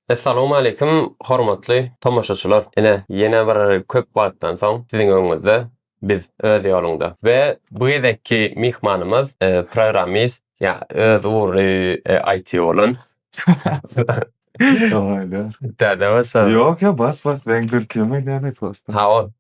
Essalowmaleýkim hormatly tomaşaçylar ine ýene bir köp wagtdan soň siziň öňüňizde biz öz ýolunda we bu gezekki myhmanymyz programmist ýa öz ugry IT bolan Ýok ýok bas bas men gülküme gülýän prosta.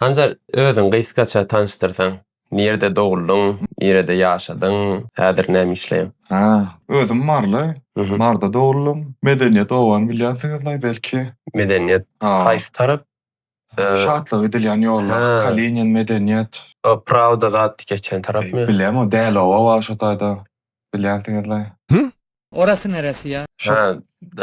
Hanjar özüň gysgaça tanyşdyrsaň. Nirede doguldyň, nirede ýaşadyň, häzir näme işleýäň? Hä, özüm Marly. Maryda doguldym. Medeniýet obany bilýänsiňizlaý belki? Medeniýet haýsy tarap? Şatlyga gidilýän ýolda, Kalinin, Medeniýet. Prawda zat geçen tarapmy? Bilem, o Däloba bar şo taýda. Bilýänsiňiz-le. Hü? Orasy neresi ýa? Şat. Hä,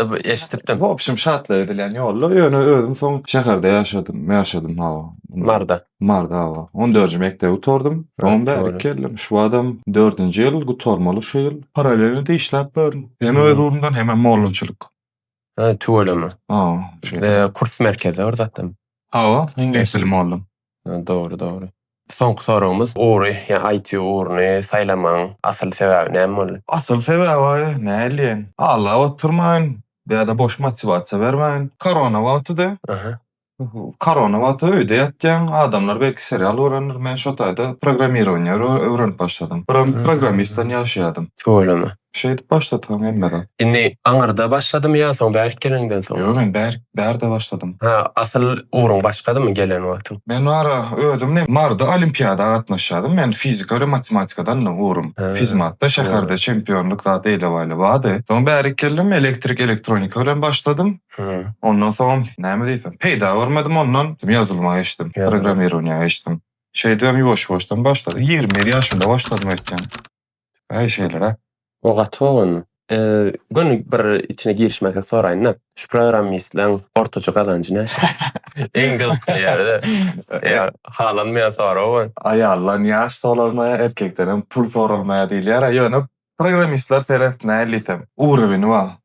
b eşdipdim. Wobşem, Şatlyga gidilýän ýolda, ýöne özüm soň şäherde ýaşadym, ýaşadym, hawa. Marda. Marda, hawa. On dördünji mekdebi gutardym. Soňam bärik geldim. Şu badam dördünji ýyl, gutarmaly şu ýyl. Parallelno-da işläp ýörün. Hem öz ugrumdan, hemem mollançylyk. Ha, tüweleme. Ha, şeýle. Eee, kurs merkezi bir zatdan. Hawa, iňlis dili mugallym. Ha, dogry, dogry. Soňky soragymyz, ugry, ýa IT ugruny saýlamagyň asyl sebäbi näme boldy? Asyl sebäbi, näleýin, aglap oturmaýyn, ýa-da boş motiwasiýa bermäýin. Korona wagtydy. Aha. Korona wagty öýde ýatýaň, adamlar belki serial görendir, men şo taýda programmirowaniýa öwrenip başladym. Biram programmistdan ýaşaýadym. Tüweleme. Şeýdip başlady soň hemme zat. Indi aňyrda başladymy ýa soň bärik geleniňden soň? Ýok men bärik bärde başladym. Hä asyl ugruň başgadymy gelen wagtyň? Men wara özüm ne Maryda olimpiada gatnaşýadym, men fizika bilen matematikadandy ugrym. Fizmatda şäherde çempionlyk zat eýle-baýly bardy. Soň bärik geldim, elektrik elektronika bilen başladym. Hä. Ondan soňam näme diýsem, peýda görmedim ondan. Ýazylma geçdim, programmirowaniýa geçdim. Şeýdibem ýuwaş-ýuwaşdan başladyk. Ýigrimi bir ýaşymda başladym öýtýän. Äý şeýle-le. O gaty oglandy. Göni bir içine girişmezlik soraýyn-da, şu programmistleň ortaça gazanjy näçe? Iň gyzykly ýeri-de. Ýa halanmaýan sorag bu. Aýaldan ýaş soralmaýar, erkekdenem pul soralmaýar diýilýär-ä. Ýöne programmistler seret näl diýsem, urowini bar.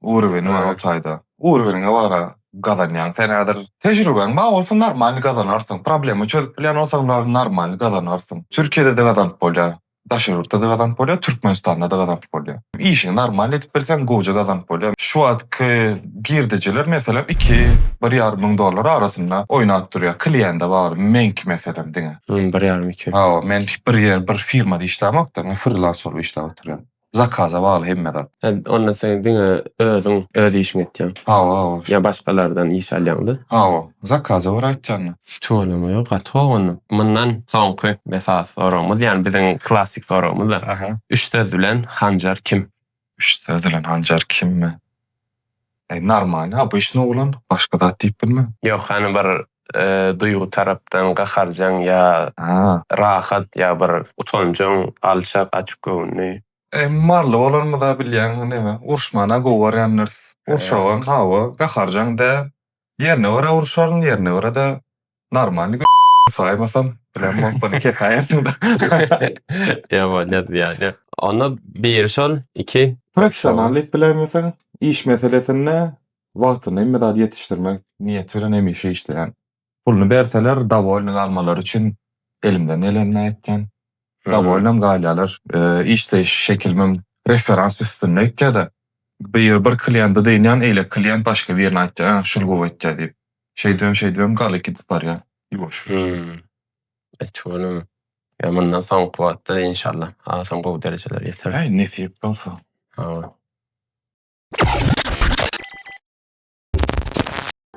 Urweniň bar o taýda. Urweniňe bar-a, gazanýaň sen häzir. Tejribäň bar bolsa normalny gazanarsyň. Problema çözüp bilýän bolsaň normalny gazanarsyň. Türkiýede-de gazanyp bolýar. Daşary ýurtda-da gazanyp bolýar, Türkmenistanda-da gazanyp bolýar. Işiňi normalny edip bilseň gowja gazanyp bolýar. Şu wagtky girdejiler meselem iki, bir ýarym müň dollar arasynda oýnap durýar. Kliende bar, meňki meselem diňe. Hum, bir ýarym iki. Hawa, men bir ýer, bir firmada işlämokda, men frilanser bolup işläp oturýan. Zakaza bagly hemme zat. Hä onda sen diňe özüň öz işiňi etýäň. Hawa hawa. Ýa başgalardan iş alýaňda. Hawa. Zakaza görä aýtýanda. Tüweleme ýok gaty gowy onda. Mundan soňky esasy soragymyz ýani biziň klassik soragymyzda. Aha. Üç söz bilen Hanjar kim? Üç söz bilen Hanjar kimmi? Eý narmalny obyçny oglan başga zat diýip bilme. Ýok hany bir duýgy tarapdan gaharjaň ýa rahat ýa bir utanjaň alçak açyk göwünli. Eý mally bolanymyza bilýäň neme uruşmana gowy görýändiris urşagam hawa gaharjaň däl ýerine görä uruşaryn ýerine görä-de Normalny gö saýmasam, bilen bolup bunu kesäýersiň-de. Ýa bolýar ýaly. Onda biri şol, iki. Professionallyk bilenmiseň, iş meselesinde wagtynda hemme zady ýetişdirmek niýeti bilen hemişe işleýän. Puluny berseler, dowolny galmalary üçin elimden gelenini etýän. Dowolnam galýarlar. Işleýiş şekilimem referans üstünde öýtýä-de, bir bir kliýente dynýan, eýlek kliýent başga birine aýtýar, Şul gowy öýtýär diýip. Şeýdibem şeýdibem galy gidip barýa ýuwaş ýuwaş. Hümm. Etügünüm. Ýa mundan soňky wagtda inşallah hasam gowy derejelere ýeteris. Äý nesip bolsa. Hawa.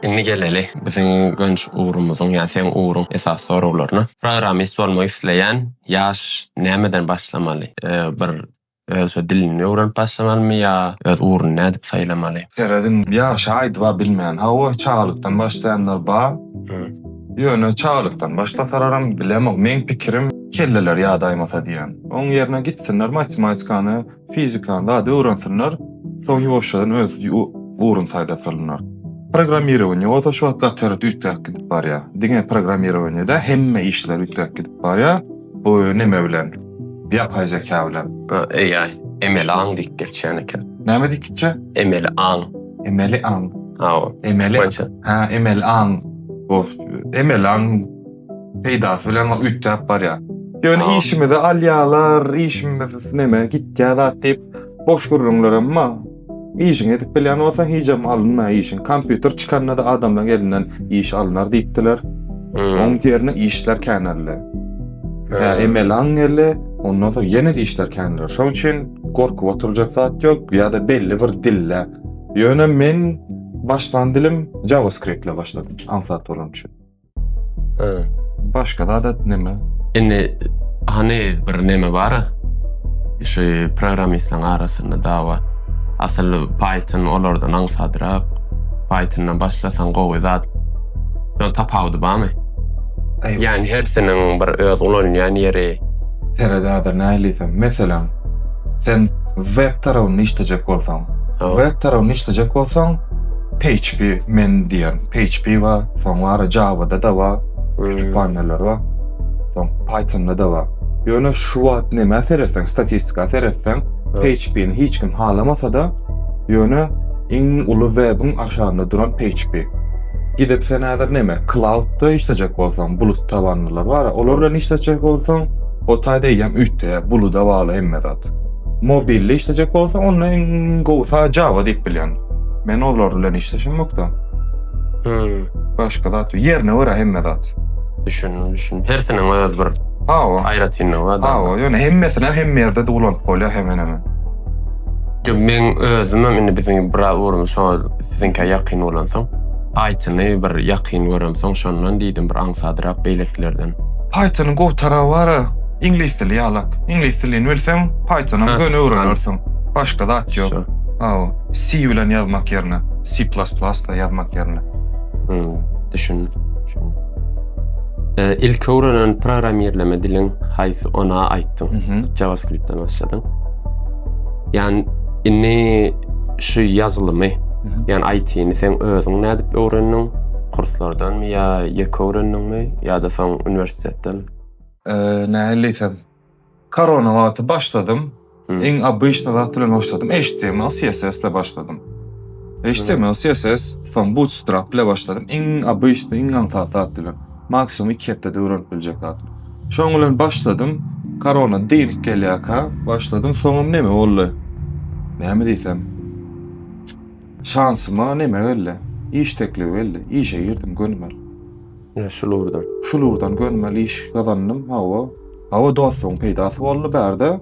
Indi geleli biziň gönç ugrumyzyň ýa seň ugruň esasy soraglaryna. Programist bolmak isleýän ýaş nämeden başlamaly? Bir Öz şu dilini öwrenip başlamalymy ýa öz ugruny nädip saýlamaly. Serediň ýagşy aýdyba bilmän. Hawa çagalykdan başlaýanlar bar. Ýöne çagalykdan başlasararam bilemok meň pikirim kelleleri ýadaýmasa diýýän. Oň ýerine gitsinler matematikany, fizikany zady öwrensinler. Soň ýuwaşjadan öz ugruny saýlasalynar. Programmirowaniýe bolsa şu wagt gaty ýere üýtgäp gidip barýar. Diňe programmirowaniýe däl hemme işler üýtgäp gidip barýar. Bu näme bilen? Ýapay zeka bilen. AI, emeli aň diýip geçýän eken. Näme diýip gitjä? Emeli aň. Emeli aň. Hawa. Emeli. Ha, emeli aň. Bu emeli aň peýdasy bilen üýtgäp barýar. Ýöne işimizi alýarlar, işimiz näme gitýär zat diýip boş gürrüňler emma. Işiňi edip bilýän bolsaň hijem alynma işiň. Kompýuter çykanda-da adamlaryň elinden iş alynar diýipdiler. Oň ýerine işler käneldi. Hä, emeli aň geldi. Ondan soň ýene işler käneldi. Şoň üçin gorkup oturjak zat ýok ýa-da belli bir dilde. Ýöne men başlan dilim JavaScript ile başladym, aňsat bolany üçin. He. Başga zat et neme? Indi hany bir neme bar. Şu programmistleň arasynda dawa. Asyl Python olardan aňsadrak. Pythondan başlasaň gowy zat. Şoň tapawudy barmy? Aý, Ýani hersiniň bir öz ulanýan ýeri. Seret häzir nähiliseň. Meselem, sen web tarabynda işlejek bolsaň, Hawa. web tarabynda işlejek bolsaň, PHP men diýen PHP bar, soň bar Java-da da bar, kütüphaneler bar. Soň Python-da da bar. Ýöne şu wagt nämä seretseň, statistika seretseň, PHP-ni hiç kim halamasa-da, ýöne iň uly web-iň aşagynda duran PHP. Gidip sen häzir näme, cloud-da işlejek bolsaň, bulut tabanlylar bar, olar bilen işlejek bolsaň, o taýda eýýäm üýtgeýär, buluda bagly hemme zat. Mobilde işlejek bolsa onda en gowsa Java diýip bilýän. Men olar bilen işleşim ýokda. Hmm. Başga zat ýok. Ýerine görä hemme zat. Düşündim, düşündim. Hersiniň öz bir Ha o. aýratynlygy bar. Ha o. Ýöne hemmesini hem hemme ýerde de ulanyp bolýar hemen hemen. Yo, Men özüm hem indi biziň bir ugrumda şoňa siziňkä ýakyn bolansoň, Pythony bir ýakyn göremsoň, şondan diýdim bir aňsadrak beýlekilerden. Pythonyň gowy taraby bar. Iňlis dili ýalak. Iňlis dilini bilseň, Python-am göni öwrenersiň. Başga zat ýok. Hawa. C bilen ýazmak ýerine, C++ bilen ýazmak ýerine. Hmm, düşündim. Düşündim. Ilki öwrenen programmirleme diliň haýsy ona aýtdyň? Mhm. JavaScript-den başladyň. Ýani indi şu ýazylymy, mhm. ýani IT-ni sen özüň nädip öwrendiň? Kurslardanmy ýa ýeke öwrendiňmi ýa-da soň uniwersitetden? Nähili diýsem, korona wagty başladym. Iň obyçny zat bilen başladym, HTML, CSS ile başladym. HTML, CSS, soň Bootstrap ile başladym. Iň obyçny, iň aňsat zat bilen. Maksimum iki hepdede öwrenip biljek zat. Şoň bilen başladym. Korona diýilip gelýärkä, başladym. Soňam näme boldy? Näme diýsem? Şansyma näme geldi? Iş teklibi geldi. Işe girdim, gönümel. Ine şul ugurdan. Şul ugurdan görmeli iş gazandym. Hawa. Hawa dostuň peýdasy boldy bärde.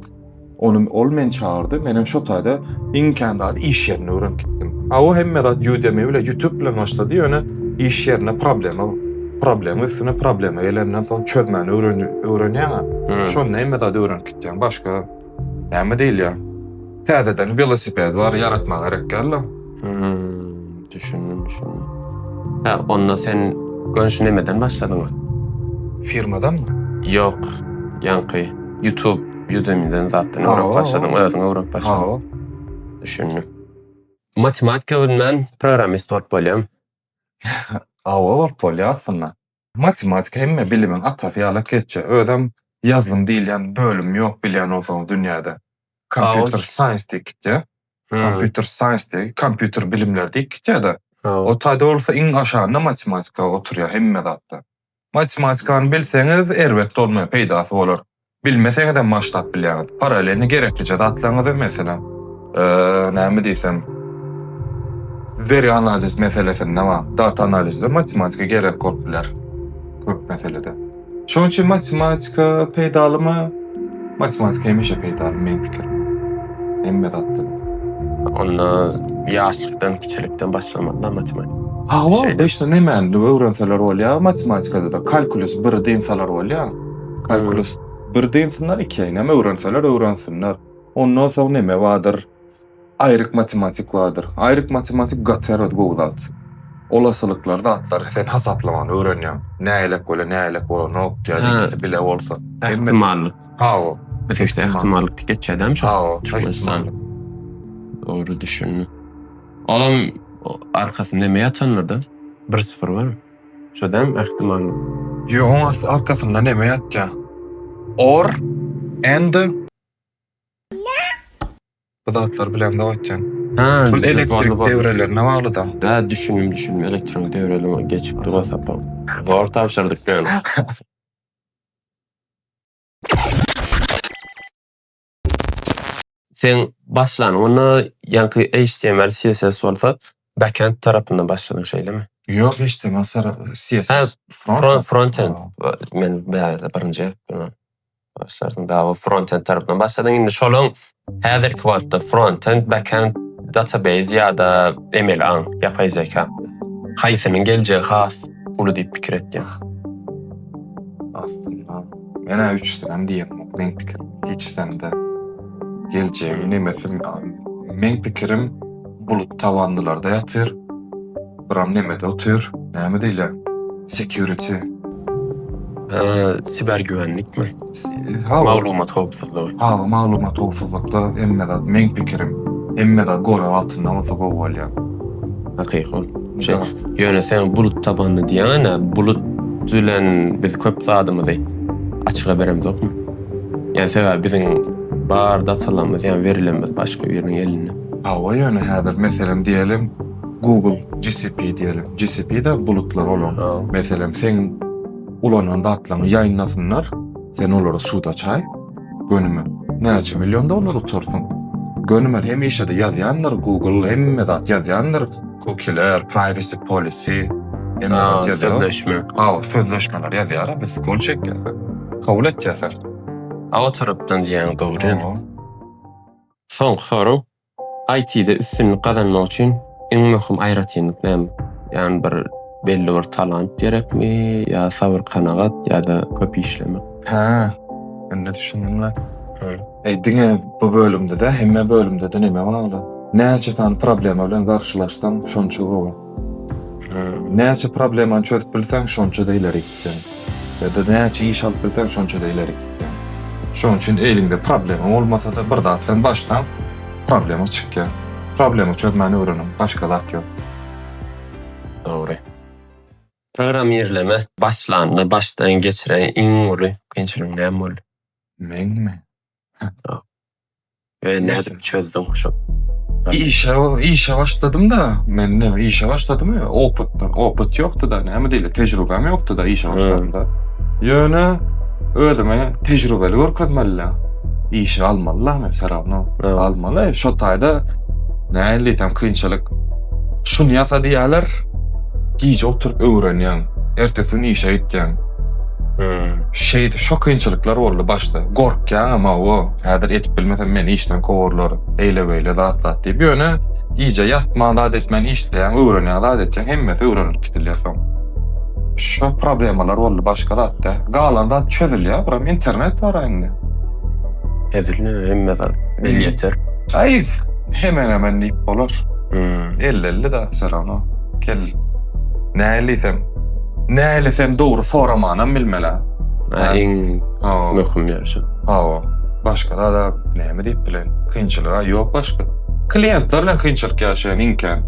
Ony ol meni çagyrdy. Menem şo taýda iň kän zady iş ýerinde öwrenip gitdim. Hawa hemme zat Udemy bilen Youtube bilen başlady ýöne iş ýerinde problema problema üstüne problema gelenden soň çözmäni öwrenýäňä. Şonda hemme zady öwrenip gitýäň. Başga Näme diýilýär? Täzeden welosiped bar ýaratmak gerek ýaly. Düşündim, düşündim. Hä, onda sen önşi nämeden başladyň? Firmadanmy? Ýok, ýaňky YouTube, Udemy-den zatdan öwrenip başladyň, özüň öwrenip başladyň. Hawa. Düşündim. Matematika bilmän programmist bolup bolýarmy? Hawa, bolup bolýar aslynda. Matematika hemme bilimiň atasy ýaly oketçi. Özem ýazlym diýilýän bölüm ýok bilýän bolsaňyz dünýäde. Kompýuter saýns diýip gitýä. Kompýuter saýns diýip, kompýuter bilimleri diýip gitýä-de. O taýda bolsa iň aşagynda matematika oturýa hemme zatda. Matematikany bilseňiz erbet bolmaýar, peýdasy bolar. Bilmeseňizem maştap bilýäňiz. Paralelni gereklije zatlaryňyzy, meselem, näme diýsem, veri analiz meselesinde bar, data analizde matematika gerek bolup biler köp meselede. Şonuň üçin matematika peýdalymy? Matematika hemişe peýdaly meň pikirimde. Hemme zatda. Onda ýaşlykdan, kiçilikden başlamalyda matematika. Hawa, beşde nemäni öwrenseler bolýar, matematikada-da kalkulus biri dynsalar bolýar. Kalkulus bir dynsyna iki eýnäm öwrenseler öwrensinler. Ondan soň neme bardyr? Aýryk matematik bardyr. Aýryk matematik gaty erbet gowy zat. Olasylyklar zatlary sen hasaplamany öwrenýäň. Näýlek bole näýlek bolanok ýa-da ikisi bile bolsa. Ähtimallyk. Hawa. Biz işte ähtimallyk diýip geçýädämi şo? Hawa. Çuňistan. Dogry düşündim. Olam arkasynda neme ýatanlarda bir syfyr barmy? Şodäm ähtimal. Ýo oň asty arkasynda neme ýatýa or and. Bu zatlar bilen zat etýän. Hä Pul elektrik dewrelerine baglyda. Hä düşündim düşündim elektrik dewreleme geçip dura sapam. Zor tabşyrdyk gel. Sen başlan onda ýaňky html css bolsa backend tarapyndan başladyň şeýlemi? Ýok html tarapy css front frontend men bärde birinji başlarsyň dagy frontend tarapyndan başladyň indi şolaň häzirki wagtda frontend backend database ýa-da emeli aň ýapaý zeka haýsynyň geljegi has uly diýip pikir etýäň? Men-ä üçüsinem diýemok, meň pikirim, hiç sende geljegiň nemesim ýaly. Meň pikirim bulut tabanlylarda ýatyr, biram nemede otyr, näme diýilýär, security. Siber güwenlikmi? Hawa. Maglumat howpsuzlygy. Hawa, maglumat howpsuzlykda hemme zat, meň pikirim, hemme zat gorag altynda bolsa gowy bolýar. Hakyky ol. Şo ýöne sen bulut tabandy diýeňä bulut bilen biz köp zadymyzy açyga beremzokmy? Ýa sebäbi biziň bar datalarymyz ýa werilerimiz başga biriniň elinde. Hawa ýöne häzir meselem diýeliň Google GCP diýeliň GCP de bulutlar olaň meselem seň ulanan zatlaryňy ýaýynlasynlar sen olara suda çaý gönüme näçe million dollar uçarsyň gönüme hemişede ýazýandyr Google hemme zat ýazýandyr. Kukiler, privacy policy, sözleşme. Ha, sözleşmeler ýazýar, biz gol çekýäs. Kabul etýäs. Awa tarapdan diýýän dogry. Soňky soraw. IT-de üstünlik gazanmak üçin iň möhüm aýratynlyk näme? Ýani bir belli bir talant gerekmi, ýa sabyr-kanagat ýa-da köp işlemek? Hä. Indi düşündim-le. Eý diňe bu bölümdede hemme bölümdede neme bagly? Näçe sany problema bilen garşylaşsaň şonça gowy. Näçe problemany çözüp bilseň şonça-da ileri gitseň. Ýa-da näçe iş alyp bilseň şonça-da ileri gitseň. Şoň üçin eliňde problema bolmasa-da bir zat bilen başlaň, problema çykýar. Problema çözmäni öwreniň, başga zat ýok. Dogry. Programmirleme başlanda başdan geçiren iň uly kynçylygyň näme boldy? Meňmi? Ýok. Özüň nädip çözdüň şol? Işe, işe başladym-da. Men näme işe başladym ýa opytdan. Opyt ýokdy-da, näme diýle, tejribäm ýokdy-da işe başladymda. Ýöne özümi tejribeli görkezmeli-dä. Işe almaly-da meni se rawno. Almaly. Şo taýda nähili diýsem kynçylyk. Şuny ýasa diýerler. Gije oturyp öwrenýäň. Ertesi gün işe gitýäň. Hmm. Şeydi, şo kynçylyklar boldy başda. Gorkýan ama o, häzir edip bilmesem meni işden kowarlar. Eýle beýle zat zat diýip. Ýöne gije ýatman zat etmän işleýän, öwrenýän zat etýän hemmesi öwrenilip gidilýär soň. Şo problemalar boldy başga zat da. Galan zat çözülýär, buram internet bar indi. Hezilini hemme zat el ýeter. Aý, hemen hemen diýip bolar. Hmm. Elli elli da, serano. Kel. Näliysem. Nähili sen dogry soramanam bilmela. Ha, iň Hawa. möhüm ýeri şu. Hawa. Başga zada näme diýip bilen? Kynçylyga ýok başga. Kliýentler bilen kynçylyk ýaşaýan iň kän.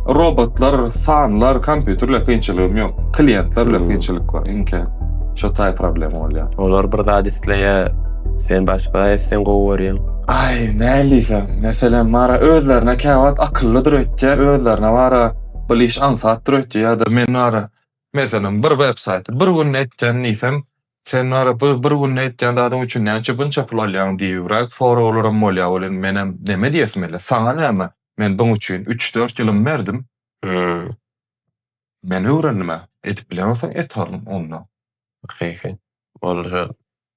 Robotlar, sanlar, kompýuter bilen kynçylygym ýok. Kliýentler bilen Hmm. kynçylyk bar iň kän. Şo taý problem bolýar. Olar bir zat isleýär. Sen başga zat etseň gowy görýäň. Aý, näliseň, meselem, bara özlerine käwagt akyllydyr öýtýär, özlerine bara Ol iş aňsat dur öýtdi ýa-da men wara, meselem, bir web saýty bir günde etýän diýsem, sen wara bu bir günde etýän zadyň üçin näçe bunça pul alýaň diýibräk soraglaram bolýar. Ol indi menem neme diýesim ele, saňa näme, men buň üçin üç-dört ýylym berdim. Hä. Men öwrendim-ä. Edip bilen bolsaň et oglum onda. Hakyky. Ol şol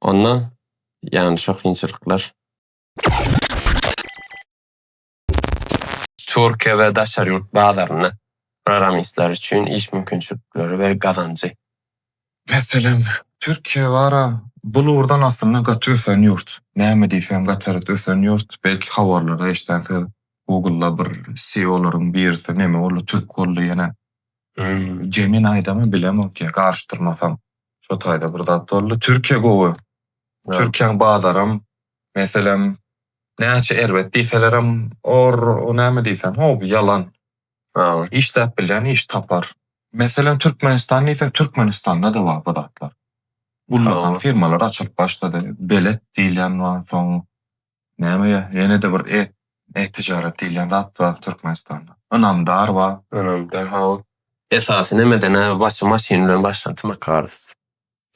Onda ýany şo kynçylyklar. Türkiýe we daşary ýurt bazarynda programistler üçin iş mümkinçilikleri we gazanjy. Meselem, Türkiýe bar-a, bul ugurdan aslynda gaty ösen ýurt. Näme diýsem, gaty ösen ýurt. Belki habarlarda eşdänsiňiz, Google-da bir CEO-laryň birisi neme boldy, türk boldy ýene. Jemini-da-my bilemok ýa, garyşdyrmasam. Şo taýda bir zat boldy. Türkiýe gowy. Türkiýäň bazaram, meselem, näçe erbet diýselerem, or, o näme diýseň, ho, bu ýalan. Işläp bilýän iş tapar. Meselem, Türkmenistan diýseň, Türkmenistanda-da bar bu zatlar. Ullakan firmalar açylyp başlady. Belet diýilýän bar, soň Näme ýa, ýene-de bir et, et tijaret diýilýän zat bar Türkmenistanda. Ynamdar bar. Ynamdar hawa. Esasy nemeden-ä başy maşyn bilen başlan Tmakars.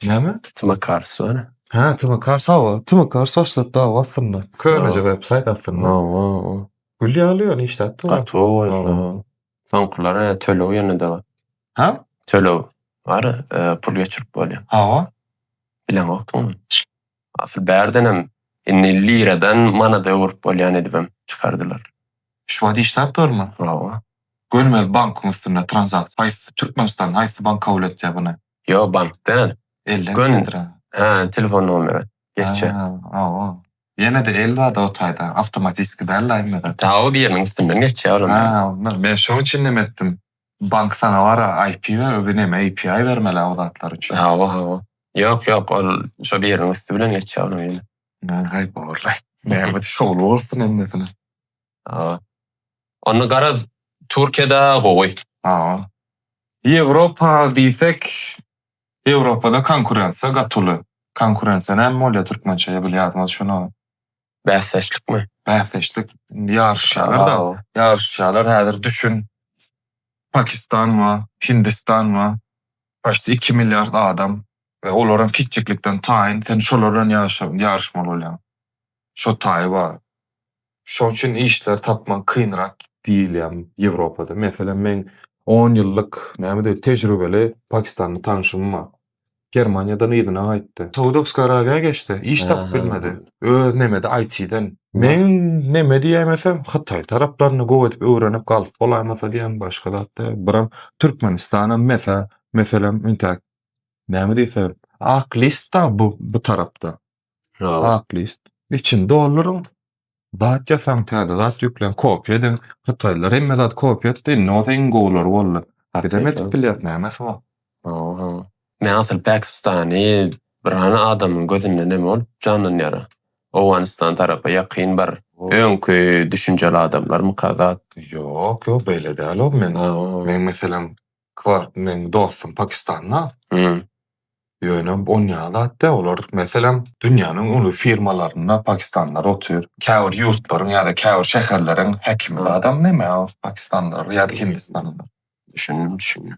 Näme? Tmakars bar. Hä, Tmakars hawa. Tmakars başlap dagy aslynda. Köneje websaýt aslynda. Hawa. Gül ýaly ýöne işläp dur. Gaty gowy bolsa. Soňkular ä töleg ýene-de bar. Hä? Töleg bar, pul geçirip bolýar. Hawa. Bileňokdygymy? Asyl bärdenem indi liradan manada öwürip bolýan edibem çykardylar. Şu wagt işläpdirmi? Hawa. Görmez bankyň üstünde tranzakt haýsy Türkmenistan haýsy bank kabul etýä buny. Ýok bank däl. Elden Gön gidendirä. Hä telefon nomeri geçýä. Hä hawa. Ýenede el bada o taýda awtomatiski däl la indi zat. Taw biriniň üstünden geçýä olam. Hä ondan. Men şoň üçin näme etdim. Bank saňa bara IP berer bu neme API bermeli a bu zatlar üçin. Hawa hawa. Ýok ýok ol şo biriniň üsti bilen geçýär onuň ýene. Näme gaýyp ogurlaý. Näme şowly bolsun hemmesine. Hawa. Onda garaz Türkiýede gowy. Hawa. Ýewropa diýsek Ýewropada konkurensiýa gaty uly. Konkurensiýa näme bolýar türkmençe ýa bilýärdiňiz şuny. Bäsdeşlikmi? Bäsdeşlik. Indi ýaryşýarlar-da. Ýaryşýarlar. Häzir düşün, Pakistan bar, Hindistan bar. Paçti iki milliard adam we olar hem kiçijiklikden taýyn. Sen şolar bilen ýaryşmaly bolýaň. Şo taýy bar. Şonuň üçin işleri tapmak kynrak diýilýär Ýewropada. Meselem, meň on ýyllyk, näme diýer, tejribeli pakistanly tanşym bar. Germaniýadan yzyna gaýtdy. Saudowska Arabiýa geçdi. Iş tapyp bilmedi. Öz nemedi IT-den. Men neme diýemesem, Hytaý taraplaryny gowy edip öwrenip galyp bolaýmasa diýýän, başga zat däl. Biram Türkmenistanam mesa, meselem, intäk näme diýseň, ak list dagy bu tarapda. Aklist. Içini dolduryň. Zat ýasaň, täze zat ýükläň, kopýa ediň. Hytaýlylar hemme zat kopýa etdi, indi bolsa iň gowulary boldy. Bizem edip bilýäris, nämesi bar. Men asyl Pakistany bir hany adamyň gözünde neme bolup janlanýara? Owganystan tarapa ýakyn bir öňki düşünjeli adamlarmyka zat? Ýok, ýok beýle däl o. Men, meň meselem Kwark meň dostum pakistanda. Hmm. Ýöne on ýaly zat dä olar meselem dünýäniň uly firmalarynda pakistanlylar otyr. Käbir ýurtlaryň ýa-da käbir şäherleriň häkimi zadam neme pakistanlylar ýa-da hindistanlylar. Düşündim düşündim.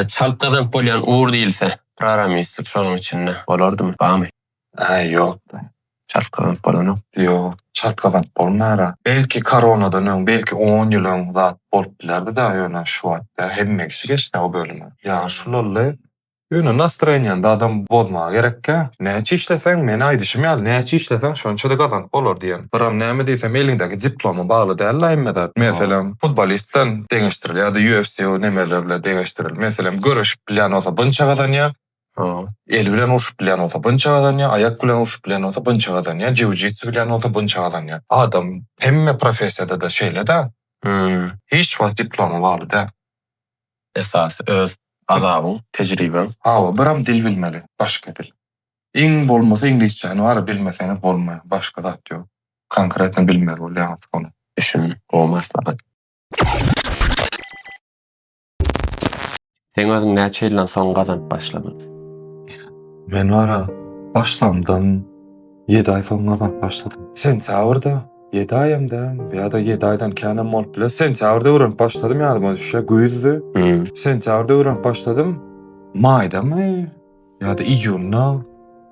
Çalt gazanyp bolýan ur diýilse, proramislik şonuň içinde bolardymy, bamy? Aý ýok. Çalt gazanyp bolanok. Ýok, çalt gazanyp bolmara. Belki koronadan öň, belki on ýyl öň zat bolup bilerdi-da, ýöne şu wagtda hemme kişi geçdi-ä o bölüme. Ýagyş ulaldy. Ýöne nastreniýany zadam bozmaga gerekkä. Näçe işleseň, men aýdyşym ýaly, näçe işleseň şonça-da gazanyp bolar diýen. Biram näme diýsem eliňdäki diploma bagly däl-la hemme zat. Meselem, futbolist bilen deňeşdiril ýa-da UFC nemeler bilen deňeşdiril. Meselem, göreşip bilýän bolsa bunça gazanýar, El bilen urşup bilýän bolsa bunça gazanýar, aýak bilen urşup bilýän bolsa bunça gazanýar, jiu-jitsu bilýän bolsa bunça gazanýar. Adam hemme professiýada-da şeýle-dä. Hiç wagt diploma bagly däl. Esasy öz azabyň, tejribeň. Hawa, biram dil bilmeli, başga dil. Iň bolmasa iňlisçäni bary bilmeseňiz bolmaýar, başga zat ýok. Konkretno bilmeli bolýaňyz ony. Düşündim, gowy maslahat. Sen özüň näçe ýyldan soň gazanyp başladyn? Men bara başlamdan ýedi aý soň gazanyp başladym. Sentýabrda, ýedi aýam dälmi ýa-da ýedi aýdan känem bolup biler. Sentýabrda öwrenip başladym ýadyma düşýär, güýzdi. Sentýabrda öwrenip başladym. Maýdamy, Ýa-da iýunda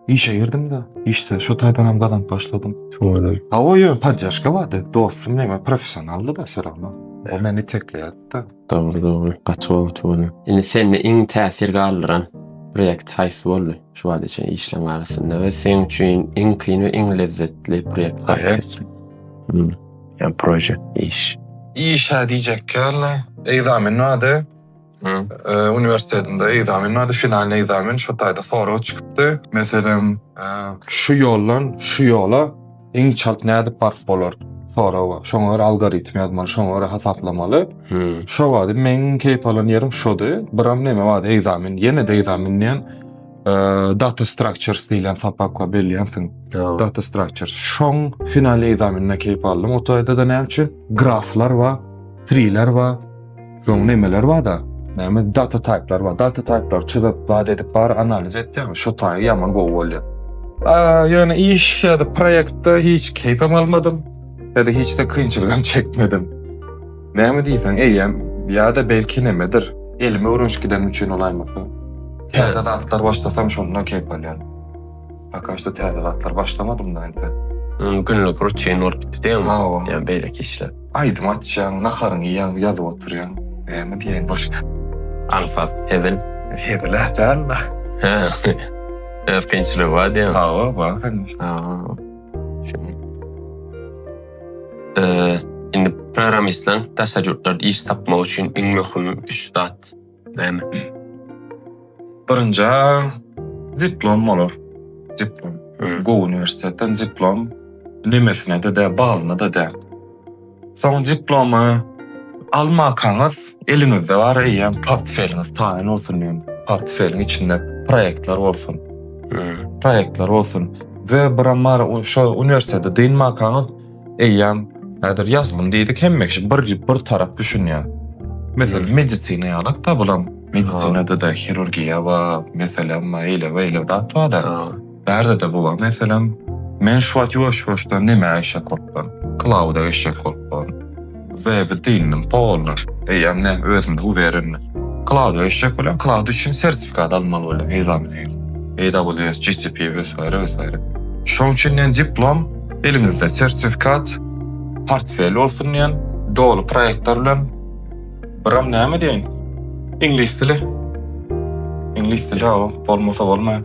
işe girdim-de, işde şu taýdanam gazanyp başladym. Şoňa Hawa, ýöne podýaşka bardy. Dostum meň professionaldy-da seragna. O meni itekleýärdi-de. Dogry, dogry. Gaty gowy tuweleme. Indi sende iň täsir galdyran proýekt haýsy boldy şu wagta çenli işleriň arasynda we seň üçin iň kyn we iň lezzetli proýekt haýsy? Hmm. Ýa proje, iş. Iş-hä diýjek ýaly, ekzamen bardy. uniwersitetinde ekzamen bardy, finalnyý ekzamen, şo taýda sorag çykypdy. Meselem, şu ýoldan şu ýola iň çalt nädip baryp bolar? Soragy. Şoňa görä algoritm ýazmaly, şoňa görä hasaplamaly. Şo bady meň iň keýp alan ýerim şody. Biram näme bady, ekzamen, ýene-de ekzamen diýen data structures diýlen sapak bar, bilýänsiň. Data structures. Şoň finalnyý ekzameninden keýp aldym. O taýda-da näme üçin? Graflar bar, triler bar. Soň nemeler bada? Näme data type'lar bar. Data type'lar çyzyp, zat edip bar analiz etýäň. Şo taýy ýaman gowy bolýar. A, ýöne iş ýa-da proýektde hiç keýpem almadym. Ýa-da hiç de kynçylygam çekmedim. Näme diýseň, eýýäm ýa-da belki nemedir, elime öwrenişik gidenim üçin bolaýmasa. Täze zatlar başlasam şonda keýp alýan. Poka şo täze zatlar başlamadym da indi. Hmm, günlük rutin bolup gitdi diýeň. Ha, o. Ýa beýleki işler. Aýdym açýaň, naharyňy iýýäň, ýazyp oturýaň. Näme diýeýin başga? Aňsat, hezil. Hezil ädäl da. Ha. Öz kynçylygy bar diýeň. Ha, o, bar hanyň. Ha. Şeýle. Eee, indi programmistler daşary ýurtlarda iş tapmak üçin iň möhüm üç zat. Näme? Birinja diplom bolar. Diplom. Gowy uniwersitetden diplom. Nemesine de de, balyna da de. Soň diplomy almakaňyz eliňizde bar eýýäm portfeliňiz taýyn bolsun diýen. Portfeliň içinde proýektler bolsun. Proýektler bolsun. We biramar şo uniwersitete dynmakaňyz eýýäm häzir ýazylym diýdik hemme kişi bir bir tarap düşünýär. Meselem medisina ýalyk da bulam medisinada da hirurgiýa we meselem eýle we eýle zat bar da. Bärde de bu bar meselem men şu wagt ýuwaş-ýuwaşdan nämä eşek bolupdyryn? Klauda eşek bolupdyryn. Weby dynnym polnyş. Eýýäm näm özümde uwerenne. Klaud eşek welin klaud üçin sertifikat almaly welin nizamlaýyn. AWS GCP wesayra wesayra. Şoň üçin diýen diplom eliňizde sertifikat portfel bolsun diýen doly proýektler bilen biram näme diýeýin iňlis dili iňlis dili bolmasa bolmaýar.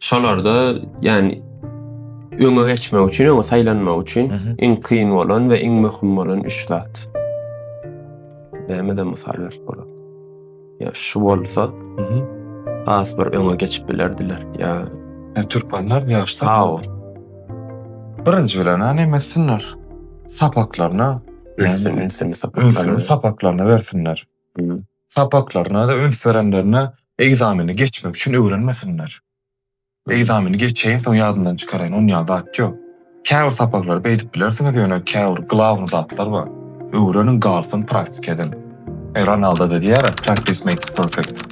Şolarda ýani öňe geçmek üçin, öňe saýlanmak üçin iň kyn bolan we iň möhüm bolan üç zat. Näme-de mysal berip bolar. Ýa şu bolsa, has bir öňe geçip bilerdiler. Ýa e, türkmenler ýaşlar. Hawa. Birinji bilen näme etsinler? Sapaklaryna, ünsini sapaklaryna, ünsini sapaklaryna bersinler. sapaklaryna-da üns berenlerine ekzameni geçmek üçin öwrenmesinler. Ekzameni geçeýin, soň ýadyndan çykaraýyn, on ýaly zat ýok. Käbir sapaklary beýdip bilersiňiz, ýöne käbir glawny zatlar bar. Öwreniň, galsyn praktika ediň. Ronaldo-da diýýärä, Practice makes perfect.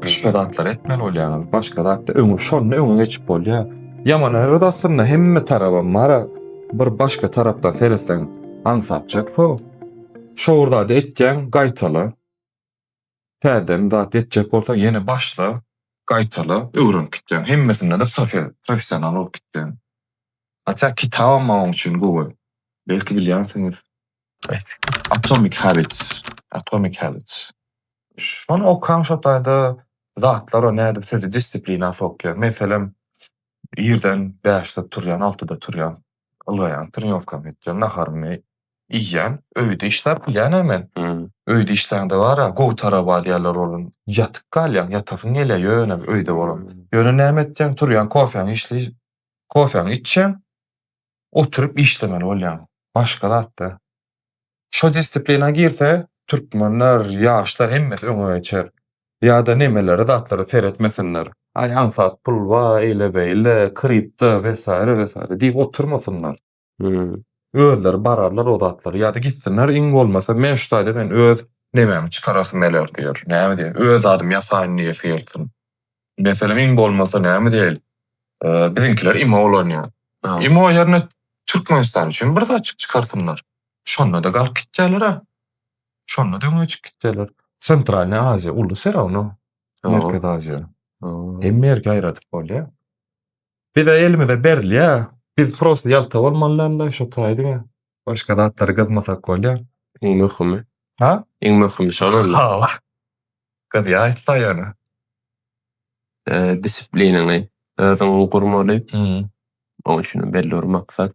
Şo zatlary etmeli bolýaňyz, başga zatda öňe, şonda öňe geçip bolýar. Ýaman erbet aslynda, hemme tarabam bar-a, bir başga tarapdan seretseň aňsatjak, ho. Şowur zady etýäň, gaýtala. Täzeden zat etjek bolsaň, ýene başla, gaýtala, öwrenip gitýäň. Hemmesinde-de professional bolup gitýäň. Hatda kitabam bar oň üçin gowy. Belki bilýänsiňiz. Atomic Habits, Atomic Habits. Şony okaň, şo taýda zatlar nädip sizi dissiplinä sokýar. Meselem, irden bäşde turýan, altyda turýan. ylgaýan, trenirkam etýän, naharymy iýýän. Öýde işläp bilýän-ä men. Öýde işlände bar-a, gowy taraba diýerler olam. Ýatyp galýaň, ýatasyň gelýär ýöne öýde bolan. Ýöne näme etjäň, turýaň, kofäňi içli, kofäňi içýäň, oturyp işlemeli bolýaň. Başga zat-da. Şo disiplina girse türkmenler ýaşlar hemmesi öňe geçer. Ýada nemelere zatlary seretmesinler. Aý aňsat pul ba eýle beýle kripto vesaire vesaire diýip oturmasynlar. Özleri bararlar o zatlary ýada gitsinler iň bolmasa men şu taýda men öz nememi çykarasym geler diýer. Näme diýer öz zadymy ýasaýyn diýesi gelsin. Meselem iň bolmasa näme diýeli biziňkiler imo ulanýar. Ha. Imo ýerine Türkmenistan üçin bir zatçyk çykarsynlar. Şonda-da galyp gitýärler-ä. Şonda-da öňe çykyp gitýärler. Sentralnyý Aziýa uly serawno. Merkezi Aziýa. Hemme ýerki aýradyp bolýar. Bize elimize berilýä. Biz prosta ýalta bolmalydanda şo taýy diňe. Başga zatlary gyzmasak bolýa. Iň möhümi. Ha? Iň möhümi şol onda. Hawa. Gyzýaýys saýana. Disipliniňi özüň gurmaly. Oň üçin belli bir maksat.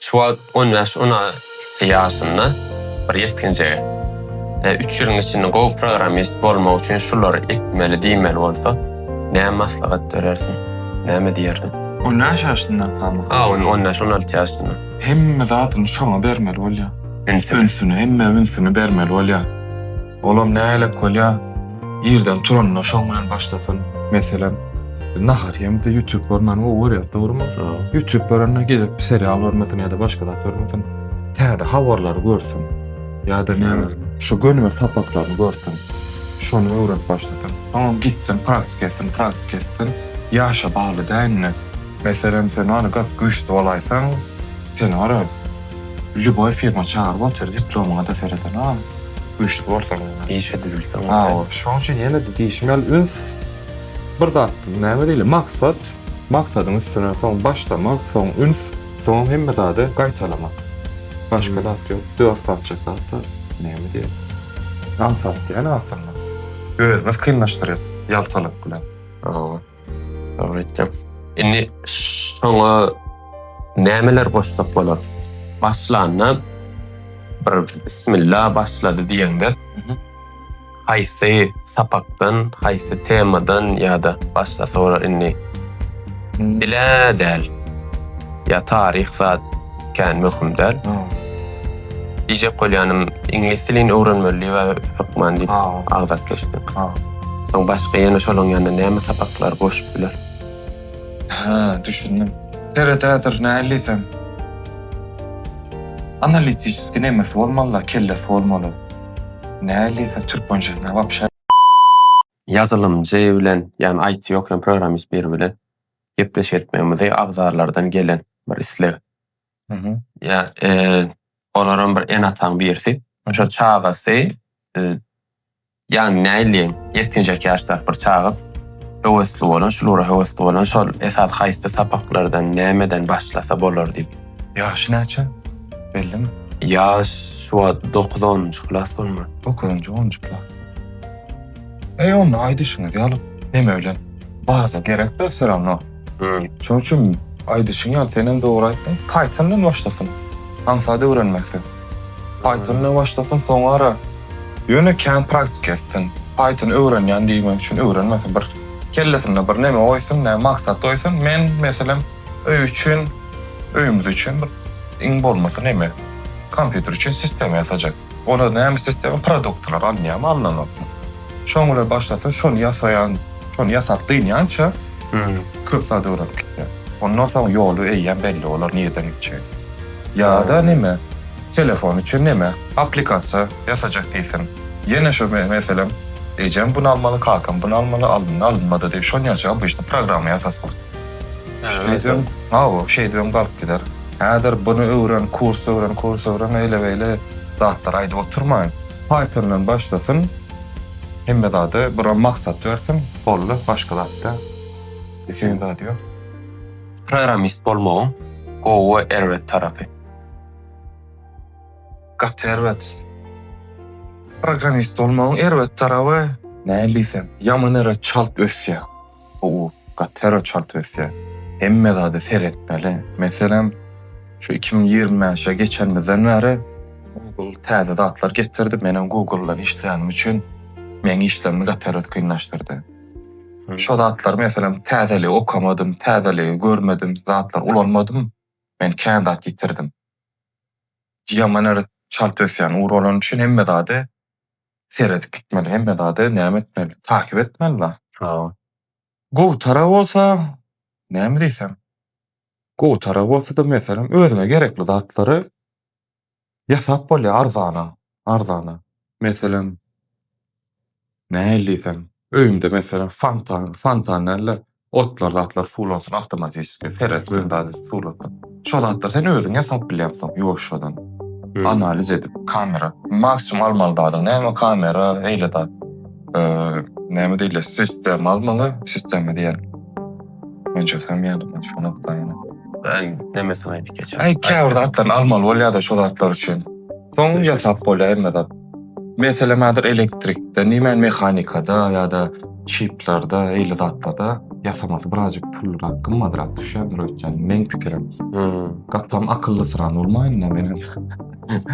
Şu wagt on bäş, on alty ýaşynda bir ýetginjege, üç ýylyň içinde gowy programmist bolmak üçin şulary etmeli diýmeli bolsa, näme maslahat berersiň? Näme diýerdiň? On bäş ýaşyndan kama? A, on on bäş, on alty ýaşyndan. Hemme zadyny şoňa bermeli bolýar. Ünsüni. Ünsüni, hemmä ünsüni bermeli bolýar. Olam nälet bolýa. Irden turanyna şoň bilen başlasyn. Meselem, nahar ýemde ýütüp görmäni gowy görýär, dogrymy? Ýütüp görende gezip serial görmesin ýa-da başga zat görmesin. Täze habarlary görsün. Ýa-da näme, şu gönüme sapaklaryny görsün. Şony öwrenip başlasyn. Soňam gitsin, praktika etsin, praktika etsin. Ýaşa bagly däl indi. Meselem, sen ony gaty güýçli bolaýsaň, sen ora, Lýuboý firma çagyryp otyr diplomyňada seredenogam güýçli bolsaň ýene. Iş edip bilseň bolýa. Hawa şoň üçin ýenede diýşim ýaly üns bir zat näme diýle maksat maksadyň üstüne soň başlamak soň üns soňam hemme zady gaýtalamak başga zat ýok dört zat çatlapda näme diýeli aňsat diýeli aslynda özümiz kynlaşdyrýas ýaltalyk bilen. Hawa. Dogry aýtdyň. Indi şoňa nämeler goşsak bolar? Başlanda bir bismillah başlady diýeňde, haýsy sapakdan, haýsy temadan ýa-da başga soralar indi? Dile däl. Ýa taryh zat. kän möhüm däl. Diýjek bolýanym, iňlis dilini öwrenmeli diýip hökman diýip agzap geçdim. Soň başga ýene şolaň ýanyna näme sapaklar goşup biler? Hä, düşündim. Seredädir näliysem. Analitişiski nemesi bolmaly-la, kellesi bolmaly. Näliysem türkmençesine wapşe. Ýazylymjy bilen, ýagny IT ýokan programmist biri bilen gepleşik etmegimizi agzarlardan gelen bir isleg. Mhm. Ýa e, olaram bir ene-ataň birisi. Şo çagasy e, ýagny näýleýin, ýetginjek ýaşdaky bir çaga höwesli bolan, şul ugra höwesli bolan, şol esas haýsy sapaklardan, nämeden başlasa bolar diýip. Ýaşy näçe? Bellimi? Ýaş şu wagt 9-10-njy klas bolmaly. Dokuzynjy, onunjy klas. Eý onda aýdyşyňyz ýaly neme bilen baza gerekdir her syrana. Öý. Şoň üçin aýdyşyň ýaly senem dogry aýtdyň Python bilen başlasyn aňsat öwrenmekde. Python bilen başlasyn soňara ýöne kän praktika etsin. Python öwrenýän diýmek üçin öwrenmesin bir kellesinde bir neme goýsun näme maksat goýsun men meselem öý üçin öýümiz üçin bir iň bolmasa neme kompýuter üçin sistema ýasajak. Olar näme istesem produktlar alynýamy alynanokmy şoň bilen başlasa şony ýasaýan şony ýasap dynýança köp zat öwrenip gitýär ondan soň ýoly eýýäm belli bolar nireden gitjegi ýada neme telefon üçin neme aplikasiýa ýasajak diýsin ýene şu meselem ejem bunu almaly kakam bunu almaly alyndy alynmady diýip şonýança obişni programma ýasasyn şeýdibem hawa şeýdibem galyp gider. Häzir buny öwren, kurs öwren, kurs öwren eýle-beýle zatlar aýdyp oturmaýyn. Pythondan başlasyn, hemme zada bir maksat bersin, boldy, başga zatda düşünen zady ýok. Programmist bolmagyň gowy we erbet tarapy. Gaty erbet. Programmist bolmagyň erbet taraby, nädip diýsem, ýaman ere çalt ösýär. bu ur gatyra çalt ösýär. Hemme zada seretmeli. Meselem, şu iki müň ýigrimi bäşe geçenimizden bäri Google täze zatlar getirdi. Menem Google bilen işleýänim üçin meň işlerimi gatyra kynlaşdyrdy. Şo zatlary meselem täzeligi okamadym, täzeligi görmedim, zatlary ulanmadym, men kän zat ýitirdim. Ýaman ýeri çalt ösýän ur bolany üçin hemme zady seredip gitmeli hemme zada näme etmeli takyp etmeli la. Hawa. Gowtara bolsa näme diýsem. Gowtara bolsada meselem özüňe gerekli zatlary ýasap bolýar arzana arzana. Meselem nähili diýsem öýümde meselem fontan fontan däl-de Otlar zatlar suwlansyn awtomatişki seret gündäz suwlansyn. Şo zatlar sen özüň ýasap bilýäňsoň ýuwaşjadan analiz edip. Kamera maksimum almaly zadyň näme kamera eýle zat näme diýilýär sistema almaly sistema diýen mençe sen ýalymy şo nokdaýyny. Aý nemesini aýdyp geçiň. Aý käbir zatlaryny almaly bolýada şo zatlar üçin. Soň ýasap bolýar hemme zat. Meselem häzir elektrikde, nämen mehanikada ýa-da çiplerde, eýle zatlarda ýasamasy birazjyk pullyrak, gymmadrak düşýändir öýtýän, meň pikirim. Gatam akyllysyrany bolmaýyn-da men.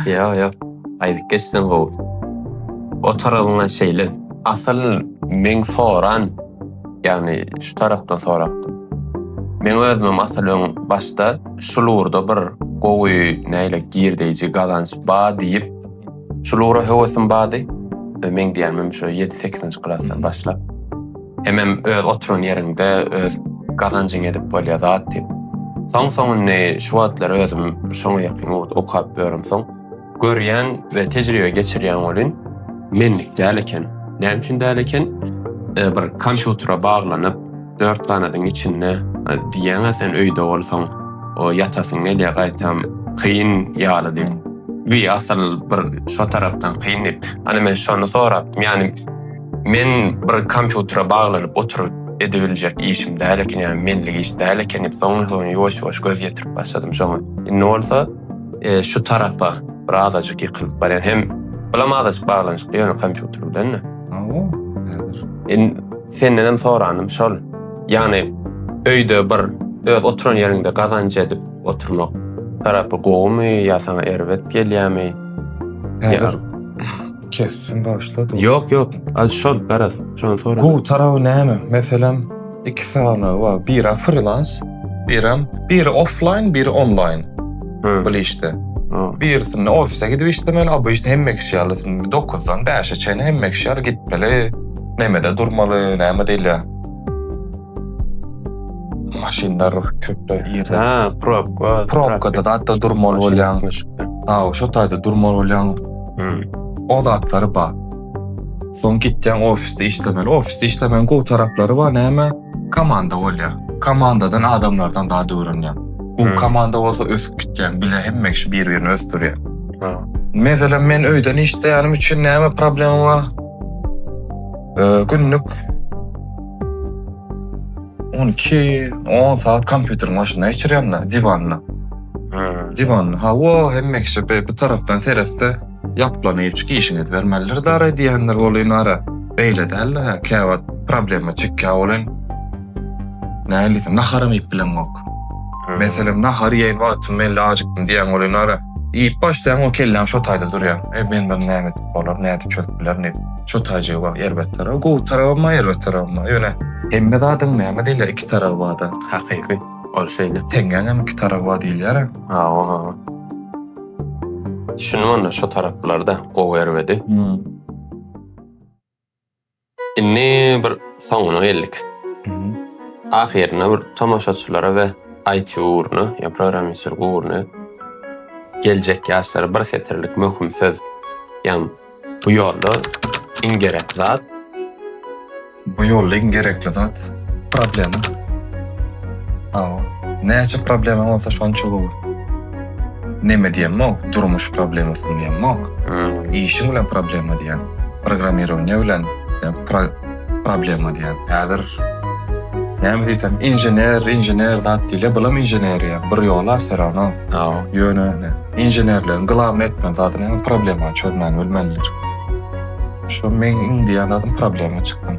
Ýa, ýa. Aýdyp geçseň gowy. O tarabyňa şeýle. Asyl meň soran Ýagny şu tarapdan sorapdym. Meň özümem asyl öň başda şul ugurda bir gowy näle girdeýji gazanç ba diýip şul ugra höwesim bady. Meň diýenmem şu ýedi sekizinji klasdan başlap. Hemem öz oturan ýeriňde öz gazanjyňy edip bolýa zat diýip. Soň soň indi şu wagtlar özüm şoňa ýakyn ugurda okap ýöremsoň. Görýän we tejribe geçirýän welin menlik däl eken. Näme üçin däl eken? E, bir kompýutere baglanyp, dört ganadyň içinde e, diýýän sen öýde bolsaň, o ýatasyň gelýär gaýtam kyn ýaly diýip. Bir asyl bir şo tarapdan kyn diýip. Ana men şony sorap, ýani men bir kompýutere baglanyp oturyp edibiljek işim däl eken, ýani menlik iş däl eken diýip, soň ýuwaş-ýuwaş göz ýetirip başladym şoňa. Indi bolsa e, şu tarapa bir azajyk ýykylyp barýar. Hem bulam azajyk baglanyşykly ýöne kompýuter bilen-de. Awa, häzir. In senden hem soranym şol. Ýagny öýde bir öz oturan ýeriňde gazanç edip oturmak tarapy gowumy ýa saňa erbet gelýärmi? Häzir Kessin başla. Ýok ýok. Al şol garaz. Şony sora. Gowy tarawy näme? Meselem, iki sany bar. Biri freelans, birem biri offline, biri online. Hı. Bu işte. Birisinde ofise gidip işlemeli, a bu işte hemme kişi ýaly 9-dan 5-e çenli hemme kişi ýaly gitmeli. Nämede durmaly, näme diýilýär? Maşynlar köpler ýerde. Ha, probka. Probkada da durmaly bolýan. Ha, şo taýda durmaly bolýan. Hmm. O zatlary bar. Soň gitýän ofisde işlemeli. Ofisde işlemegiň gowy taraplary bar. Näme? Komanda bolýar. Komandadan adamlardan zat öwrenýär. Bu hmm. komanda bolsa ösüp gitýär. Bile hemme kişi bir-birini ösdürýär. Meselem men öýden işleýänim üçin näme problema bar? Ee, günlük 12-10 saat kompýuteriň başynda geçirýän-de, diwanda. Diwan, hawa, hemme kişi bi bu tarapdan seretse, ýaplanyp çyk işiňiz bermelidir dara diýendir welin ara beýle däldir hä käwagt problema çekýär welin nälisin naharam iýip bileňok. Meselem nahar iýen wagtym men ajykdym diýýäň welin ara iýip başlaýaň we kelläň şo taýda durýar. E men bir näme edip bolar, nädip çözüp bilerin diýip. Şo taýjygy bar erbet tarap, gowy tarabam bar erbet tarabam bar. Ýöne hemme zadyň näme diýler iki taraby barda. Hakyky. Ol şeýle. Teňňäňem iki tarapy bar diýilýär-ä. Hawa, hawa. Düşündim onda şo taraplarda gowy erbedi. Indi bir soňuna geldik. Ahyrynda bir tomaşaçylara we IT ugruna, ýa programistçilik ugruna geljek ýaşlara bir setirlik möhüm söz, ýa Bu ýolda iň gerek zat. Bu ýolda iň gerekli zat. Problema. Hawa. Näçe problemaň bolsa şonça gowy. Neme diýemok, durmuş problemasyny diýemok. Işiň bilen problema diýýän. Programmirowaniýe bilen ýa pro. Problema diýýän. Häzir näme diýsem, inžener, inžener zat diýilýär. Bulam inženeriýa bir ýola всё равно. Hawa, ýöne inženerligiň glawny etmeli zady näme? Problemany çözmäni bilmelidir. Şu meň iň diýýän zadym problema çyksyn.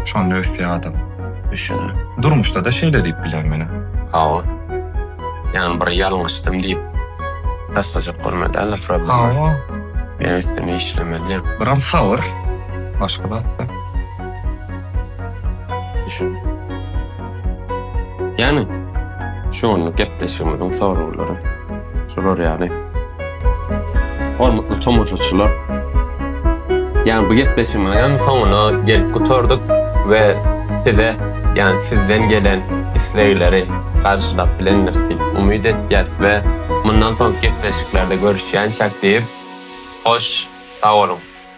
Şonda ösýär adam. Düşündim. Durmuşda-da şeýle diýip bilerin menä. Hawa. Ýagny bir ýalňyşdym diýip taşlajak bolmaly däldir problemany. Hawa. Meň üstüme işlemeli. Biram sabyr. Başga zatda. Düşün. Yani şu anlık gepleşigimizin soruları şular yani. Hormatly tomaşaçylar. Yani bu gepleşigimizin sonuna gelip gutardyk ve size yani sizden gelen islegleri karşılap bilendir diýip umyt etýäs we mundan soňky gepleşiklerde görüşýänçäk diýip hoş sag boluň.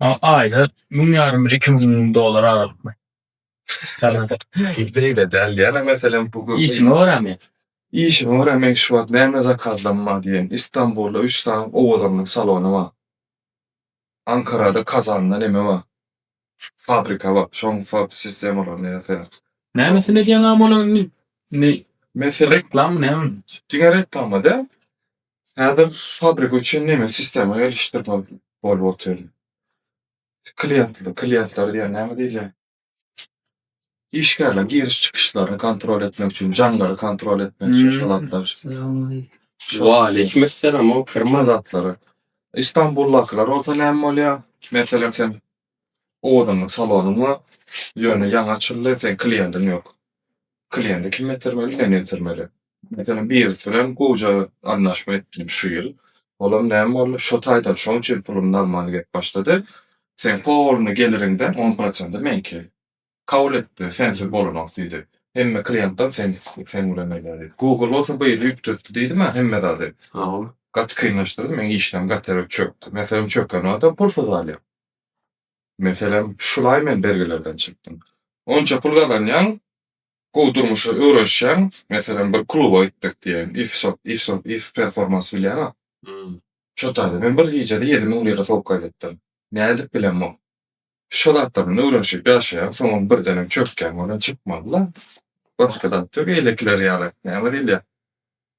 A aýda müň ýarym bir iki müň dollar aralykmy? Beýle däl. Ýene meselem bu gün Işime görä men. işime görä men şu wagt näme zakazlarym bar diýen. Istanbulda üç sany owadanlyk salony bar. Ankarada Kazanda neme bar. Fabrika bak şoň fab sistemalaryny ýasaýar. Nämesini edýäň amy onuň indi? Indi Mesele reklamy näme? Diňe reklama däl. Häzir fabrika üçin nemes sistema gelişdirmek bolup otyr. Kliýentli, kliýentler diýýän näme diýilýär? Işgärler giriş çykyşlaryny kontrol etmek üçin, jaňlary kontrol etmek üçin şu zatlar. Waleýkim essalam, o Şu kirman. zatlar. Istanbuldakylar bolsa näme bolýar? Meselem sen owadanlyk salonyň bar, ýöne ýaňy açyldy, seň kliendiň ýok. Klienti kim getirmeli? Sen getirmeli. Meselem, birisi bilen gowja anlaşma etdim şu ýyl. Olam näme boldy, şo taýdan şonçeýle pulumy almaly gelip başlady. Seň polny geliriňden on prosenti meňki. Kabul etdi, sensiz bolanok diýdi. Hemme kliýentler sen sen bilen beýle. Google bolsa bu ýyl üýtgetdi diýdi-ä hemme zady. Gaty kynlaşdyrdy, meň işlerim gaty çökdi. Meselem, çöken adam pulsuz galýar. Meselem, şulaý men bergilerden çykdym. Onça pul gazanýaň, Gowy durmuşa öwrenişýäň, meselem bir kluba gitdik diýeýin, if sot, if sot, if performance bilýäňä. Şo taýda men bir gijede ýedi müň lira sowuk gaýdypdym. Nädip bilen muň? Şo zatlardan öwrenişip ýaşaýaň, soňam birdenem çökýäň, ondan çykmaly-la. Başga zat ýok, eýlekiler ýaly. Näme diýilýär?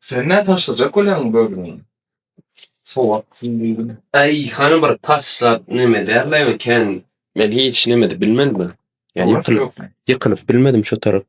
Sen nä taşlajak bolýaň bölümi? Sowatsyň diýdim. Äý, hany bir taşlap neme der-le eken? Men hiç nemede bilmedim. Ýöne ýykylyp bilmedim şo tarap.